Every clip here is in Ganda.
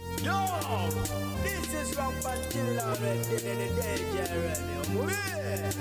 Yo, this is Rock Bantilla Red, the DJ Red,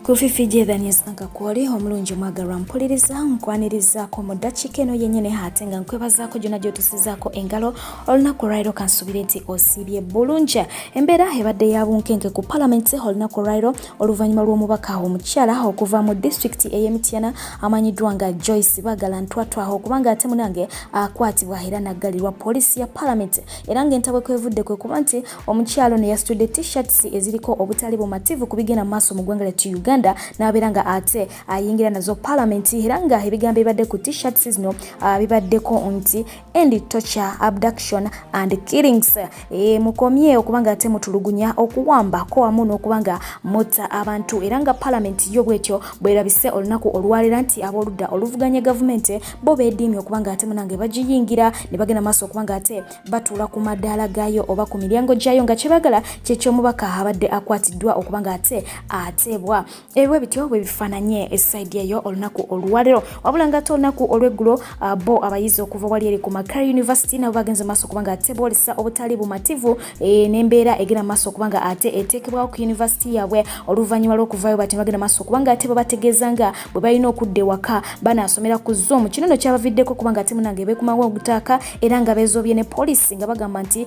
kufifi gyethanies nakakwoli omulungi omwagalwa mpuliriza nkwanirizaako mu ddakiika eno yennyini ate nga nkwebazaako gyonna gyotusizaako engalo olunaku olwairo kansubire nti osiibye bulungi embeera ebadde ya bunkenke ku palamenti olunaku olwairo oluvannyuma lw'omubaka omukyala okuva mu disitulikiti ey'emityana amanyiddwa nga joyce bagala ntwatwa okubanga ate munange akwatibwa era naggalirwa poliisi ya palamenti era ng'entabwe kwevudde kwe kuba nti omukyalo ne yasitudde tshirts eziriko obutali bumativu ku bigenda mu maaso mu ggwanga lyatu uganda n'abeera nga ate ayingira nazo palamenti era nga ebigambo ebibadde ku tshirts zino bibaddeko nti and torture abduction and killings e, mukomye okuba nga ate mutulugunya okuwamba ko wamu n'okuba nga mutta abantu era nga palamenti yo bwetyo bwerabise olunaku olwalera nti ab'oludda oluvuganya gavumenti bo beediimye okuba nga ate munange bagiyingira ne bagenda maaso okuba nga ate batuula ku madaala gaayo oba ku miryango gyayo nga kyebagala kyekyomubaka abadde akwatiddwa okuba nga ate ateebwa ebwe bityo bwe bifaananye esaidi eyo olunaku oluwaliro wabula nga ate olunaku olweggulo uh, bo abayizi okuva wali eri ku makari university nabo bagenze mu maaso okubanga ate boolesa obutali bumativu e, n'embeera egenda mu maaso okubanga ate eteekebwawo ku university yaabwe oluvannyuma lw'okuvaayo bati bagenda maaso okubanga ate babategeeza nga bwe balina okudda ewaka banaasomera ku zoom kino no kyabaviddeko okubanga ate munange beekumawo ogutaaka era nga beezoobye ne poliisi nga bagamba nti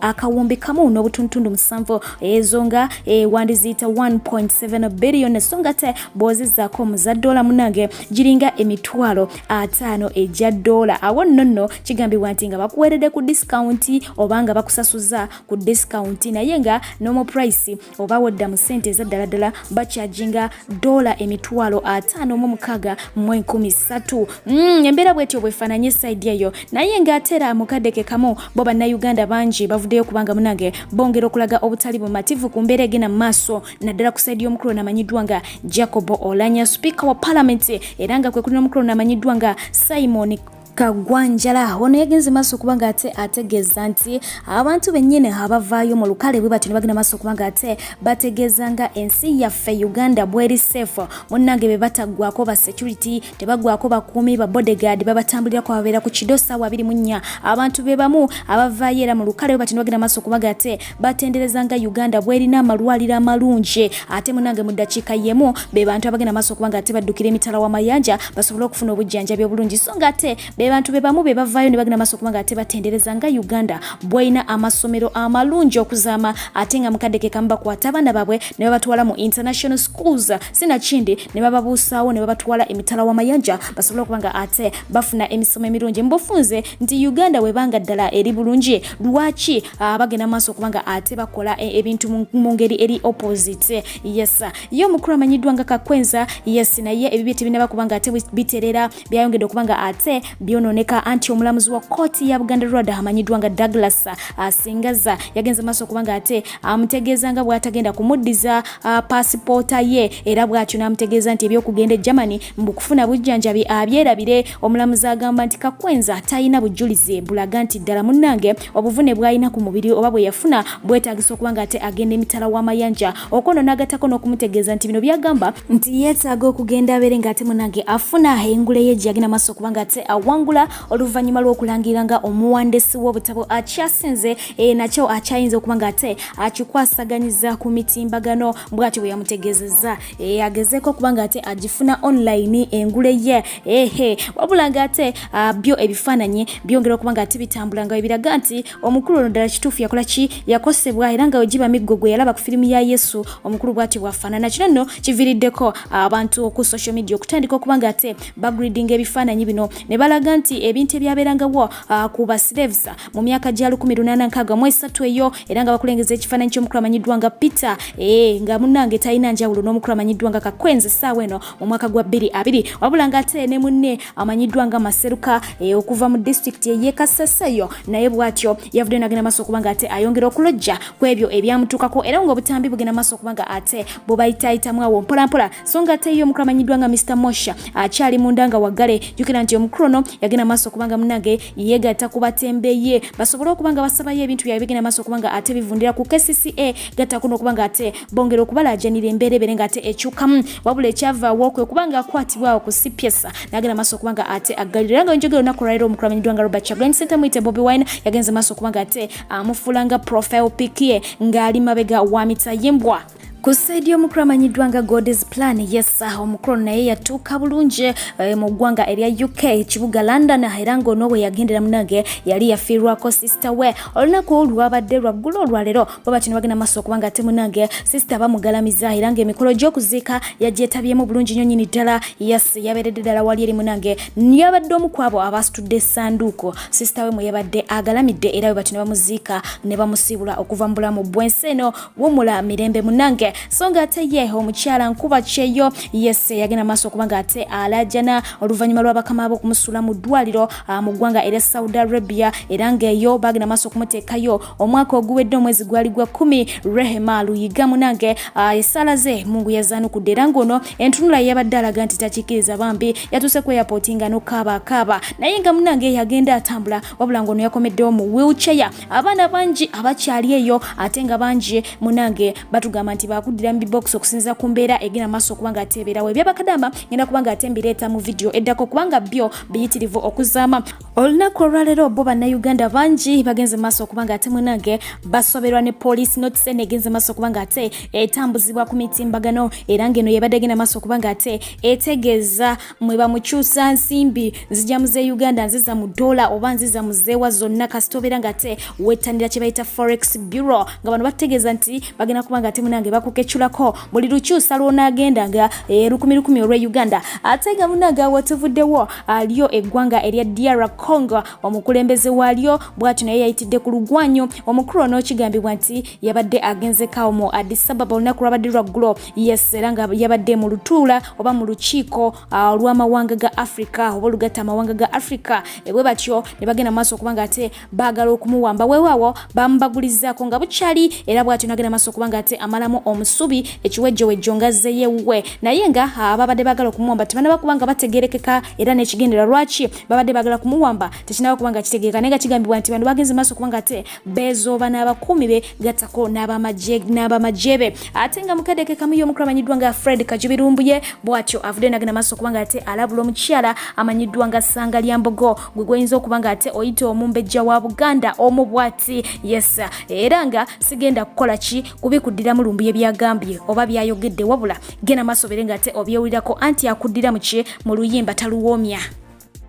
akawumbi kamu n'obutuntundu musanvu ezo nga e, wandiziyita 1.7 billion so nga te bw'ozizzaako mu za ddoola munange giringa emitwalo ataano egya ddoola awo nno nno kigambibwa nti nga bakuweeredde ku disikaunti oba nga bakusasuza ku disikaunti naye nga n'omu price oba wodda mu ssente eza ddala ddala bakyajinga doola emitwalo ataano mu mukaaga mu enkumi ssatu mm, embeera bwetyo bwefaananye esaidi eyo naye ng'ateera mukadde ke kamu bo bannayuganda bangi bavuddeyo kubanga munange bongera okulaga obutali bumativu ku mbeera egenda mu maaso naddala ku saidi y'omukulu namanyiddwa nga jacobo olanya sipiika wa palamenti era nga kwe kuli n'omukulu namanyiddwa nga simon kagwanjala ono yagenze maaso okuba nga ate ategeeza nti abantu bennyini abavaayo mu lukale bwe batyo ne bagenda maaso okuba nga ate bategeeza nga ensi yaffe uganda bweri safe munnange be bataggwako ba security tebaggwako bakuumi ba bodegaard babatambulira ku ababeera ku kido ssaawa abiri mu nnya abantu be bamu abavaayo era mu lukale bwe batyo ne bagenda maaso okuba nga ate batendereza nga uganda bwerina amalwaliro amalungi ate munange mu ddakiika yemu be bantu abagenda maaso okuba nga ate baddukira emitala w'amayanja basobole okufuna obujjanjabi obulungi so nga ate be bantu be bamu be bavaayo ne bagenda maaso okuba nga ate batendereza nga uganda bwerina amasomero amalungi okuzaama ate nga mukadde ke kamu bakwata abaana baabwe ne babatwala mu international schools sinakindi ne bababuusaawo ne babatwala emitala w'amayanja basobole okuba nga ate bafuna emisomo emirungi mubufunze nti uganda webanga ddala eri bulungi lwaki ah, bagenda maaso okuba nga ate bakola e, ebintu mu ngeri eri opposite yes ye omukulu amanyiddwa nga kakwenza yes naye ebibye tebinaba kuba nga ate biterera byayongedde okuba nga ate byononeka anti omulamuzi wa kooti ya buganda road amanyiddwa nga douglas asingaza ah, yagenze maaso okuba nga ate amutegeeza nga bw'atagenda kumuddiza uh, paasipoota ye era bw'atyo n'amutegeeza nti eby'okugenda e Germany mbu kufuna bujjanjabi abyerabire omulamuzi agamba nti kakwenza talina bujulizi bulaga nti ddala munnange obuvune bw'alina ku mubiri oba bwe yafuna bwetaagisa okuba ng'ate agenda emitala w'amayanja okono n'agattako n'okumutegeeza nti bino byagamba nti yeetaaga okugenda abeere ng'ate munnange afuna engule ye gye yagenda maaso okuba ng'ate awangula oluvannyuma lw'okulangirira nga omuwandesi w'obutabo akyasinze e, nakyo akyayinza okuba nga ate akikwasaganyiza ku mitimbagano bwatyo bwe yamutegeezezza e, agezeeko okuba nga ate agifuna online engule ye ehe wabula nga ate byo ebifaananyi byongera okuba nga ate bitambula nga ebiraga nti omukulu ono ddala kituufu yakola ki yakosebwa era nga wegiba miggo gwe yalaba ku firimu ya yesu omukulu bwatyo bwafaanana kino nno kiviiriddeko abantu oku social media okutandika okuba nga ate bagridinga ebifaananyi bino ne balaga nti ebintu ebyabeerangawo ku basilevesa mu myaka gya 1863 mu esatu eyo era nga bakulengeza ekifaananyi ky'omukulu amanyiddwa nga Peter eh nga munnange talina njawulo n'omukulu amanyiddwa nga Kakwenzi ssaawa eno mu mwaka gwa 22 wabula nga ate ne munne amanyiddwa nga Maseruka eh, okuva mu disitulikiti ey'e Kasese yo naye bw'atyo yavudde n'agenda maaso okuba nga ate ayongera okulojja ku ebyo ebyamutuukako era ng'obutambi bugenda maaso okuba nga ate bubayitaayitamu awo mpolampola so nga ate ye omukulu amanyiddwa nga Mr Mosha akyali munda nga waggale jjukira nti omukulu ono yagenda maaso okuba nga munnange yeegatta ku batembeyi basobole okuba nga basabayo ebintu byabwe bigenda maaso okuba nga ate bivundira ku kcca gattako n'okuba nga ate bongera okubalaajanira embeera ebeere nga ate ekyukamu wabula ekyavaawo kwe kuba nga akwatibwawo ku cpsa n'agenda maaso okuba nga ate aggalira nga enjogera olunaku olwaliro omukulamanyiddwa nga robert chagrand sente muyite bobi wine yagenze maaso okuba nga ate amufuula nga profile pikie ng'ali mabega wa mitayimbwa Ku saidi y'omukulu amanyiddwa nga God's Plan yesa ah, omukulu naye yatuuka bulungi eh, mu ggwanga erya UK ekibuga London ah, era ng'ono bwe yagendera munange yali yafiirwako sister we olunaku lwabadde lwaggulu olwaleero bo bati ne bagenda maaso okuba nga ate munange sister bamugalamiza ah, era ng'emikolo gy'okuziika yagyetabyemu bulungi nnyo nyini ddala yes yabeeredde ddala wali eri munange yabadde omu ku abo abaasitudde essanduuko sister we mwe yabadde agalamidde era bwe bati ne bamuziika ne bamusiibula okuva mu bulamu bw'ensi eno wumula mirembe munange so nga ate ye omukyala nkuba kyeyo yese yagenda maaso okuba nga ate alajana oluvannyuma lw'abakama abo okumusula mu ddwaliro ah, mu ggwanga era saudi arabia era ng'eyo bagenda maaso okumuteekayo omwaka oguwedde omwezi gwali gwa kumi rehema luyiga munange ah, esaala ze mungu yazanukudde era ng'ono entunula yabadde alaga nti takikiriza bambi yatuuse ku airpoti nga nokaaba akaaba naye nga munange yagenda atambula wabula ng'ono yakomeddewo mu wheelchair abaana bangi abakyali eyo ate nga bangi munange batugamba nti bakuddira mu bibox okusinza ku mbeera egenda maaso okubanga ate ebeerawo ebyabakadama ngenda kubanga ate mbireeta mu vidiyo eddako kubanga byo biyitirivu okuzaama olunaku olwaleero bo bannayuganda bangi bagenze maaso okubanga ate munange basoberwa ne poliisi notisena egenze maaso okubanga ate etambuzibwa ku mitimbagano era ng'eno yebadde egenda maaso okubanga ate etegeeza mwe bamukyusa nsimbi nzija muze uganda nziza mu dola oba nziza muzeewa zonna kasita obeera nga te wettanira kye bayita forex bureau nga bano bategeeza nti bagenda kuba nga temunange bakukeculako buli lukyusa lwonaagenda nga eh, lukumi lukumi olw'e uganda ate nga munange awatuvuddewo aliyo eggwanga erya dr congo omukulembeze waalyo bwatyo naye yayitidde ku lugwanyu omukulu onookigambibwa nti yabadde agenzekaawo mu adisababa olunaku lwabadde lwaggulo yes era nga yabadde mu lutuula oba mu lukiiko ah, olw'amawanga ga africa oba olugatta amawanga ga africa ebwe batyo ne bagenda maaso okuba nga ate baagala okumuwamba weewaawo bamubagulizzaako nga bukyali era bwatyo nagenda maaso okuba nga ate amalamu omusubi ekiwejjowejjo nga zeyewuwe naye nga ah, babadde baagala okumuwamba tebanaba kuba nga bategerekeka era n'ekigendera lwaki babadde baagala kumuwamba tekinaba kuba nga kitegeeka naye nga kigambibwa nti bano bagenze maaso okuba nga ate bezooba n'abakuumi be gattako n'abamagye be ate nga mukadde ke kamu y'omukulu amanyiddwa nga fred kajubi lumbuye bw'atyo avudde nagenda maaso okuba nga ate alabula omukyala amanyiddwa nga ssanga lya mbogo gwe gweyinza okuba nga ate oyita omumbejja wa buganda omu bw'ati yes era nga sigenda kukola ki kubikuddiramu lumbuye byagambye oba byayogedde wabula genda maaso obere nga ate obyewulirako anti akuddira mu kye mu luyimba taluwoomya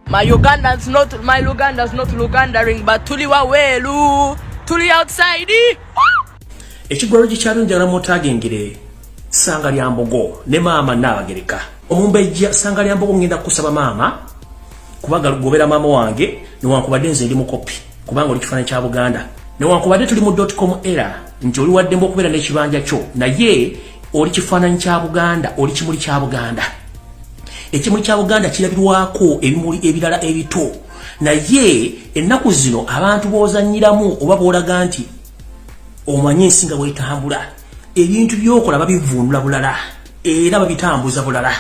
My Ugandans not my Ugandans not Ugandering but tuli wawelu tuli outside. Ekigwaro gikyali njala mutagengere sanga lya mbogo ne maama nabagereka. Omumbejja sanga lya mbogo ngenda kusaba maama kubaga gobera maama wange ne wankubadde nze ndi mukopi kubanga oli kifananyi kya Buganda. Ne wankubadde tuli mu .com era nti oli wadde mbokubera n'ekibanja kyo naye oli kifananyi kya Buganda oli kimuli kya Buganda. ekimuli kya buganda kirabirwako ebimuli ebirala ebito naye ennaku zino abantu bozanyiramu oba bolaga nti omanyi ensi nga bwetambula ebintu byokola babivundula bulala era babitambuza bulala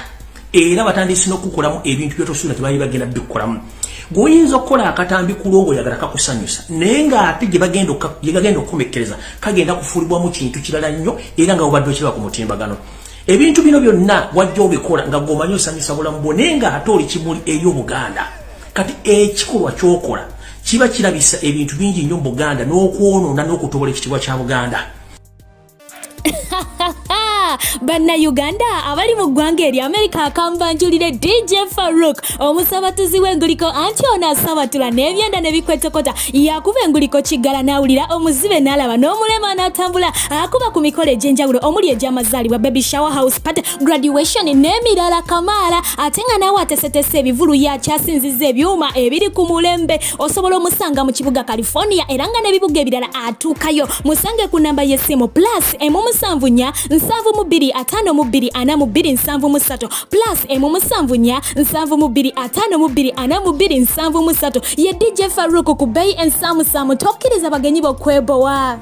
era batandisi nokukolamu ebintu byotosuula tebaali bagenda bikolamu gwoyinza okukola akatambi kulwogo yagala kakusanyusa naye ngaate gyegagenda okukomekkereza kagenda kufuulibwamu kintu kirala nnyo era nga bubadde okiraba ku mutimbagano ebintu bino byonna wajja obikola nga gwomanyi osanyusa bulamu bwo naye nga ate oli kimuli eri obuganda kati ekikolwa kyokola kiba kirabisa ebintu bingi nnyo mu buganda n'okwonoona n'okutobola ekitibwa kya buganda bannayuganda abali mu ggwanga eryo amerika akambanjulire dj farouk omusabatuzi w'enguliko anti ono asabatula n'ebyenda ne bikwetokota yakuba enguliko kiggala n'awulira omuzibe n'alaba n'omulema n'atambula akuba ku mikolo egy'enjawulo omuli egy'amazaalibwa baby shower house party graduation n'emirala kamaala ate nga naawe atesetese ebivulu yakyasinziza ebyuma ebiri ku mulembe osobola omusanga mu kibuga california era nga n'ebibuga ebirala atuukayo musange ku namba y'essimu plus emu musanvu nnya nsanvu mu bbiri ataano mu bbiri ana mu bbiri nsanvu mu ssatu plus emu musanvu nya nsanvu mu bbiri ataano mu bbiri ana mu bbiri nsanvu mu ssatu ye dj faruku ku bbeyi ensaamusaamu tokkiriza bagenyi bokwebowa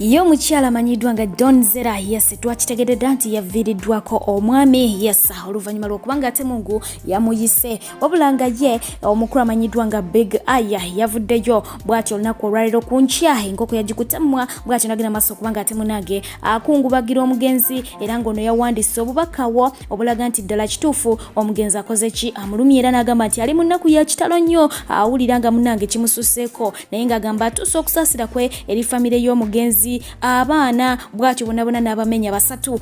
ye omukyala amanyiddwa nga don zera yes twakitegededda nti yaviiriddwako omwami yes oluvannyuma lwokubanga ate mungu yamuyise wabula nga ye omukulu amanyiddwa nga big aya yavuddeyo bwati olunaku olwaliro ku nkya enkoko yagikutamwa bwati nagenda maaso okubanga ate munange akungubagira omugenzi era ng'ono yawandiise obubaka wo obulaga nti ddala kituufu omugenzi akoze ki amulumye era n'agamba nti ali mu nnaku ya kitalo nnyo awulira nga munnange kimususeeko naye ng'agamba atuusa okusaasira kwe eri famire y'omugenzi abaana bwatyo bonabona n'abamenya basatu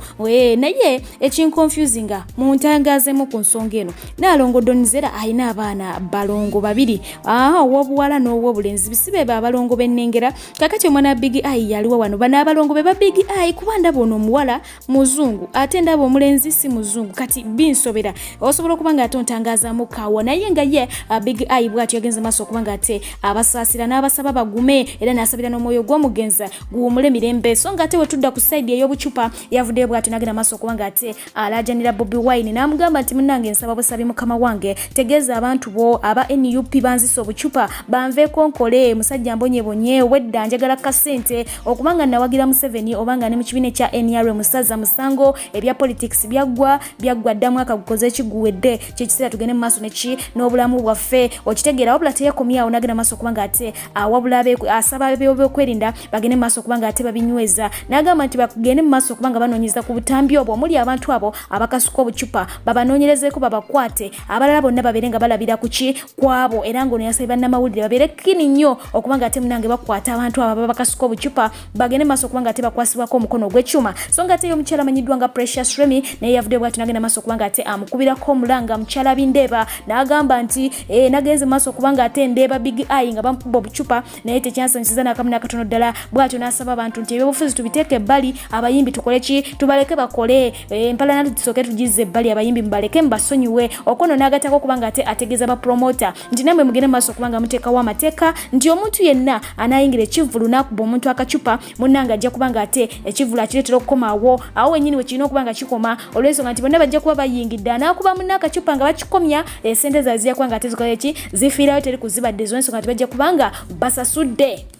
naye ekinkonfusinga mu ntangaazemu ku nsonga eno naalongo donizera alina abaana balongo babiri ow'obuwala n'ow'obulenzi bisibe be abalongo b'ennengera kakati omwana big eye yaliwa wano bano abalongo beba big eye kuba ndaba ono omuwala muzungu ate ndaba omulenzi si muzungu kati binsobera osobola okuba nga ate ontangazamu kawa naye nga ye uh, big eye bwati yagenze maaso okuba nga ate abasaasira n'abasaba bagume era n'asabira n'omwoyo gw'omugenza guwumule mirembe so nga ate wetudda ku saidi ey'obucupa yavuddeyo bwati nagenda maaso okuba nga ate alaajanira bobi wine n'amugamba nti munange nsaba busabi mukama wange tegeeza abantu bo aba nup banzisa obucupa banveeko nkole musajja mbonyebonye wedda njagala kasente okuba nga nawagira museveni oba nga ne mu kibiina ekya nra musaza musango ebya politics byaggwa byaggwa dda mwaka gukoze ekiguwedde kyekiseera tugende mu maaso neki n'obulamu bwaffe okitegeera wabula teyekomyawo nagenda maaso okuba nga ate awabula asaba abebyokwerinda bagende mu maaso kubanga ate babinyweza n'agamba nti bagende mu maaso kubanga banoonyeza ku butambi obwo omuli abantu abo abakasuka obucupa babanoonyerezeeko babakwate abalala bonna babeere nga balabira ku ki kwabo era ng'ono yasabye bannamawulire babeere kini nnyo okubanga ate munange bakwata abantu abo baba bakasuka obucupa bagende maaso kubanga ate bakwasibwako omukono ogw'ekyuma so nga ate y'omukyala amanyiddwa nga precious remy naye yavudde bwati nagenda maaso kubanga ate amukubirako omulanga mukyala bindeeba n'agamba nti e, nagenze maaso kubanga ate ndeeba big eye nga bamukuba obucupa naye tekyansanyusiza n'akamu n'akatono ddala bwatyo n'asaba abantu nti ebyobufuzi tubiteeke ebbali abayimbi tukole ki tubaleke bakole eh, empalana tusooke tugizze ebbali abayimbi mubaleke mubasonyiwe okono n'agatako kubanga ate ategeeza bapromota nti namwe mugende maaso kubanga muteekawo amateeka nti omuntu yenna anayingira ekivvulu n'akuba omuntu akacupa munnange ajja kubanga ate ekivvulu akireetera okukomawo awo wenyini we kirina okubanga kikoma olwensonga nti bonna bajja kuba bayingidde anaakuba munna akacupa nga bakikomya esente zawe zijja kubanga ate zikola eki zifiirayo teri kuzibadde ez'olwensonga nti bajja kubanga basasudde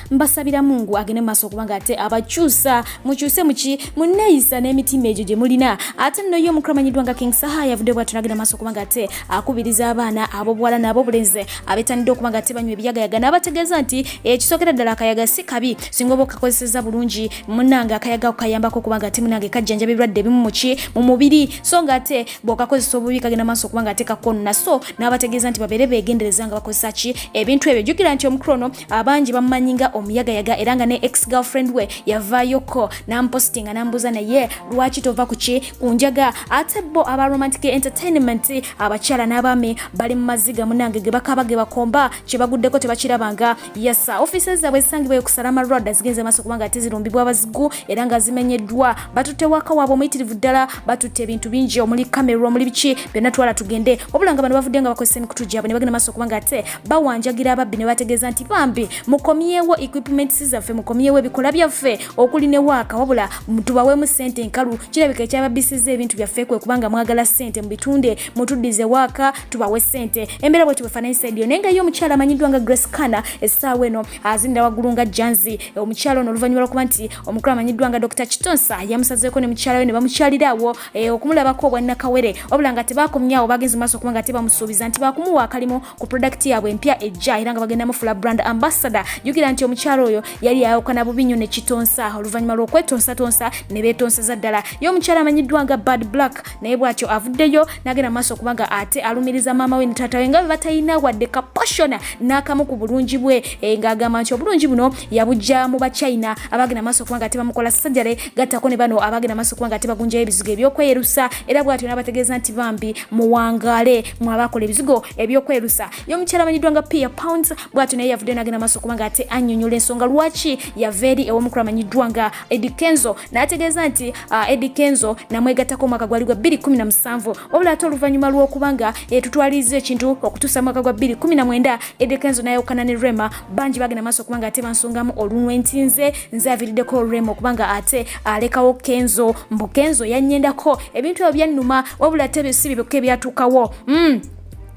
mbasabira mungu agende maaso okubanga ate abakyusa mukyuse muki muneyisa n'emitima egyo gye mulina ate nno ye omukulu amanyiddwa nga king saha yavudde bwatyo nagenda maaso okubanga ate akubiriza abaana abobuwala n'abobulenzi abetanidde okubanga ate banywa ebiyagayaga n'abategeeza nti ekisookera ddala akayaga si kabi singa oba okakozeseza bulungi munange akayaga okayambako okubanga ate munange kajjanja birwadde ebimu muki mu mubiri so nga ate bwokakozesa obubi kagenda maaso okubanga ate kakonna so n'abategeeza nti babeere beegendereza nga bakozesa ki ebintu ebyo jukira nti omukulu ono abangi bamumanyi nga omuyagayaga era nga ne ex girlfriend we yavaayokko nampositinga nambuuza naye lwaki tova kuki ku njaga ate bo aba romantic entertainment abakyala n'abaami bali mu maziga munange ge bakaba ge bakomba kye baguddeko tebakirabanga yasa offices zaabwe ezisangibwa ekusalama road azigenze maaso kubanga ate zirumbibwa abazigu era nga zimenyeddwa batutte waka waabwe omuyitirivu ddala batutte ebintu bingi omuli kamera omuli biki byonna twala tugende wabula nga bano bavudde nga bakozesa emikutu gyabwe ne bagenda maaso kubanga ate bawanjagira ababbi ne bategeeza nti bambi mukomyewo equipments zaffe mukomyewo ebikola byaffe okuli ne waaka wabula tubaweemu ssente enkalu kirabika ekyababbisizza ebintu byaffe kwe kubanga mwagala ssente mubitunde mutuddize waaka tubawe ssente embeera bwetyo bwefananyisaidiyo naye nga ye omukyala amanyiddwa nga grace kana essaawa eno azinira waggulu nga janzi omukyala ono oluvannyuma lwakuba nti omukulu amanyiddwa nga dr kitonsa yamusazeeko ne mukyala we ne bamukyalira awo eh, okumulabako obwa nakawere wabula nga tebakomyawo bagenze maaso okuba nga tebamusuubiza nti bakumuwa akalimu ku product yaabwe empya ejja era nga bagenda mufula brand ambassador jukira nti omukyalo oyo yali yayawukana bubi nnyo ne kitonsa oluvannyuma lw'okwetonsatonsa ne beetonseza ddala ye omukyala amanyiddwa nga bad black naye bwatyo avuddeyo n'agenda maaso okuba nga ate alumiriza maama we ne taata we nga bwe batalina wadde ka poshona n'akamu ku bulungi bwe eh, ng'agamba nti obulungi buno yabujja mu bachina abagenda maaso okuba nga tebamukola sajare gattako ne bano abagenda maaso kubanga ate bagunjayo ebizigo ebyokweyerusa era bwatyo n'abategeeza nti bambi muwangaale mwe abaakola ebizigo ebyokweyerusa ye omukyala amanyiddwa nga pia pounds bwatyo naye yavuddeyo n'agenda maaso kubanga ate annyonnyola ensonga lwaki yava eri ew'omukulu amanyiddwa nga edi kenzo n'ategeeza nti ah, edi kenzo namwegattako omwaka gwali gwa 217 wabula ate oluvannyuma lw'okubanga etutwaliriza eh, ekintu okutuusa mwaka gwa 219 edi kenzo n'ayawukana ne rema bangi bagenda maaso okubanga ate bansongamu olunwe nti nze nze aviriddeko rem okubanga ate alekawo kenzo mbu kenzo yanyendako ebintu ebyo byannuma wabula ate ebyo si bibyoka ebyatuukawo mm.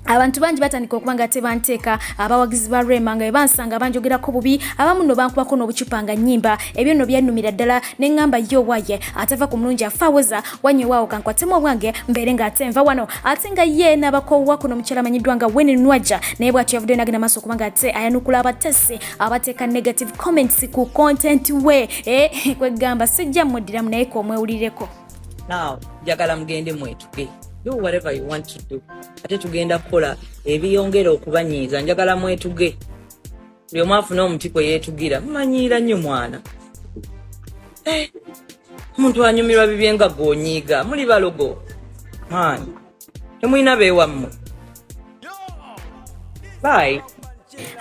abantu bangi batandika okuba nga tebanteeka abawagizi ba rema nga bebansanga banjogerako bubi abamu no bankubako n'obucupa nga nyimba ebyo no byannumira ddala ne ŋŋamba yo waye atava ku mulungi afaawoza wanyewaawo kankwatemu obwange mbeere ng'ate nva wano ate nga ye n'abakoowa kuno mukyala amanyiddwa nga Winnie Nwaja naye bw'atyo yavuddeyo n'agenda maaso kubanga ate ayanukula abatesi abateeka negative comments ku content we eh, kwegamba sijja muddiramu naye komwewulireko now njagala mugende mwetuge do whatever you want to do ate tugenda kukola ebiyongera okubanyiiza njagala mwetuge buli omu afuna omuti kwe yeetugira mumanyiira nnyo mwana eh, omuntu anyumirwa bibye nga gwonyiiga muli balogo maani temulina beewammwe bayi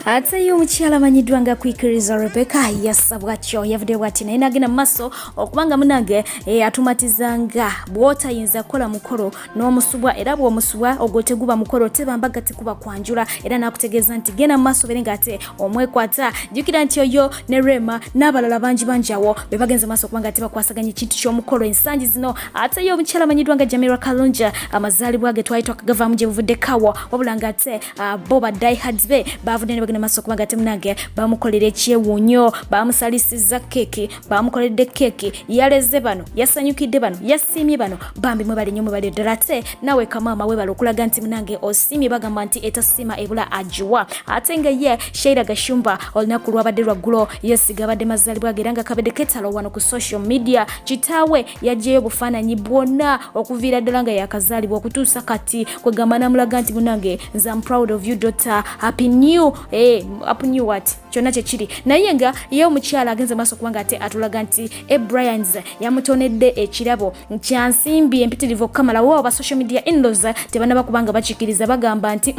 ate ye omukyala amanyiddwa nga kwikiriza rebeka yassa bwatyo yavudde bwati naye nagenda mu maaso okubanga munange eh, atumatizanga bwotayinza kukola mukolo n'omusubwa era bw'omusubwa ogwo teguba mukolo teba mbaga tekuba kwanjula era n'akutegeeza nti genda mu maaso bere ng'ate omwekwata jjukira nti oyo ne rema n'abalala bangi bangi awo be bagenze maaso okuba nga tebakwasaganya ekintu ky'omukolo ensangi zino ate ye omukyala amanyiddwa nga jamira kalunja amazaalibwa ge twali twakagavaamu gye buvudde kawo wabula ng'ate ah, bo badaihad be baavudde ne bagenda maaso okuba nga temunange bamukolera ekyewuunyo bamusalisiza keeki baamukoledde keeki yaleze bano yasanyukidde bano yasiimye bano bambi mwebale nyo mwebale ddala ate nawe kamaama webala okulaga nti munange osiimye bagamba nti etasiima ebula agiwa ate nga ye sheira gashumba olunaku lwabadde lwaggulo yesiga abadde mazalibwa ge era nga kabadde ketalo wano ku social media kitaawe yajjeyo obufaananyi bwonna okuviira ddala nga yakazaalibwa okutuusa kati kwegamba namulaga nti munange nze am proud of you daughter happy new hey, eh, happy new what kyonna kyekiri naye nga ye omukyala agenze maaso kubanga ate atulaga nti e brians yamutonedde ekirabo kyansimbi empitirivu okukamalawo aba social media inlos tebanaba kubanga bakikiriza bagamba nti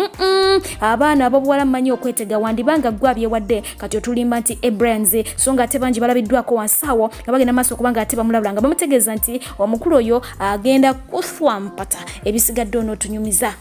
abaana abobuwala mumanyi okwetega wandibanga gwe abyewadde kati otulimba nti e brians so nga ate bangi balabiddwako wansi awo nga bagenda maaso kubanga ate bamulabula nga bamutegeeza nti omukulu oyo agenda kuthwa mpata ebisigadde onootunyumiza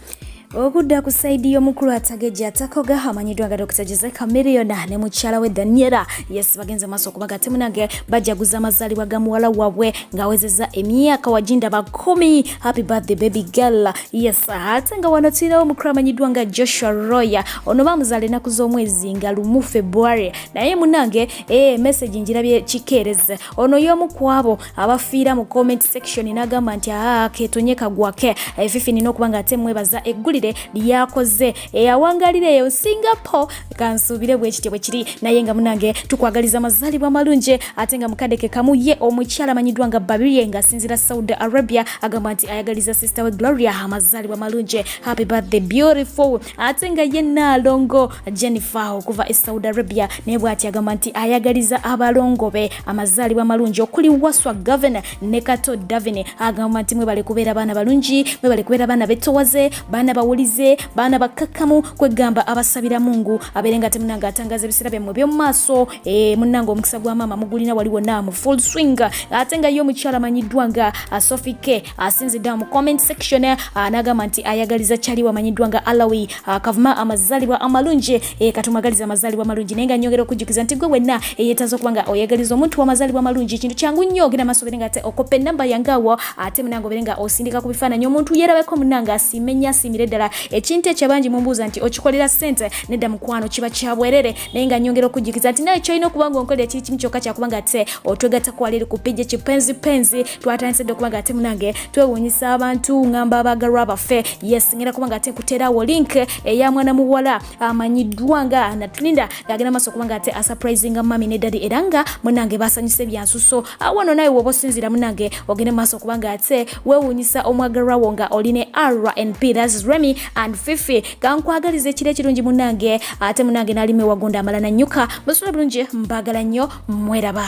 okudda ku saidi y'omukulu atagejja atakoga amanyiddwa nga dr jose camiliona ne mukyala we daniela yes bagenze maaso okubaga temunange bajaguza amazaalibwa ga muwala wabwe ng'awezeza emyaka wajinda bakumi happy birthday baby girl yes ate nga wano tulinawo omukulu amanyiddwa nga joshua roya ono bamuzaala enaku z'omwezi nga lumu february naye munange ee eh, message njirabye kikeereze ono y'omu kwabo abafiira mu comment section nagamba nti aa ketonye kagwake efifi eh, nina okuba nga ate mwebaza eggulire lyakoze eyawangalira eh, eyo singapore kansuubire bwekityo bwe kiri naye nga munange tukwagaliza amazaalibwa amalungi ate nga mukadeke kamu ye omukyala amanyiddwa nga babirie nga asinzira saudi arabia agamba nti ayagaliza sister we gloria amazaalibwa amalungi happy birthday beautiful ate nga ye naalongo jennifer okuva e saudi arabia naye bwati agamba nti ayagaliza abalongo be amazaalibwa amalungi okuli waswa governor ne kato davine agamba nti mwebale kubeera baana balungi mwebale kubeera baana betowaze baana bawulize baana bakkakkamu kwegamba abasabira mungu abeere nga temunanga atangaza ebiseera byammwe by'omu maaso e, eh, munange omukisa gwa maama mugulina wali wonna mu full swing ate nga ye omukyala amanyiddwa nga asofike asinzidde mu comment section anagamba nti ayagaliza kyali wamanyiddwa nga alawi kavuma amazalibwa amalungi e, kati omwagaliza amazalibwa amalungi naye nga nyongera okujjukiza nti gwe wenna eyetaza okuba nga oyagaliza omuntu wamazalibwa amalungi ekintu kyangu nnyo ogenda maaso obere nga ate okopa enamba yange awo ate munange obere nga osindika ku bifaananyi omuntu yerabeko munange asiime nnyo asiimire ddala ekintu ekyo bangi mumbuuza nti okikolera ssente nedda mukwano kiba kyabwerere naye nga nyongera okujjukiza nti naye kyolina okuba nga onkola ekiri kimu kyokka kyakuba nga ate otwegata kuwaliri ku pijja kipenzi penzi twatandise dde okuba nga ate munange twewunyisa abantu ngamba abaagalwa baffe yes ngera kuba nga ate nkuteerawo link eya mwana muwala amanyiddwa nga natulinda ng'agenda maaso okuba nga ate asurprisinga mami ne dadi era nga munange basanyusa ebyansuso awano naye woba osinziira munange ogende maaso okuba nga ate wewunyisa omwagalwa wo nga oli ne rnp thats remy and fifi kankwagaliza ekiro ekirungi munange ate munange nali mewagunda amala nanyuka musula bulungi mbagala nnyo mweraba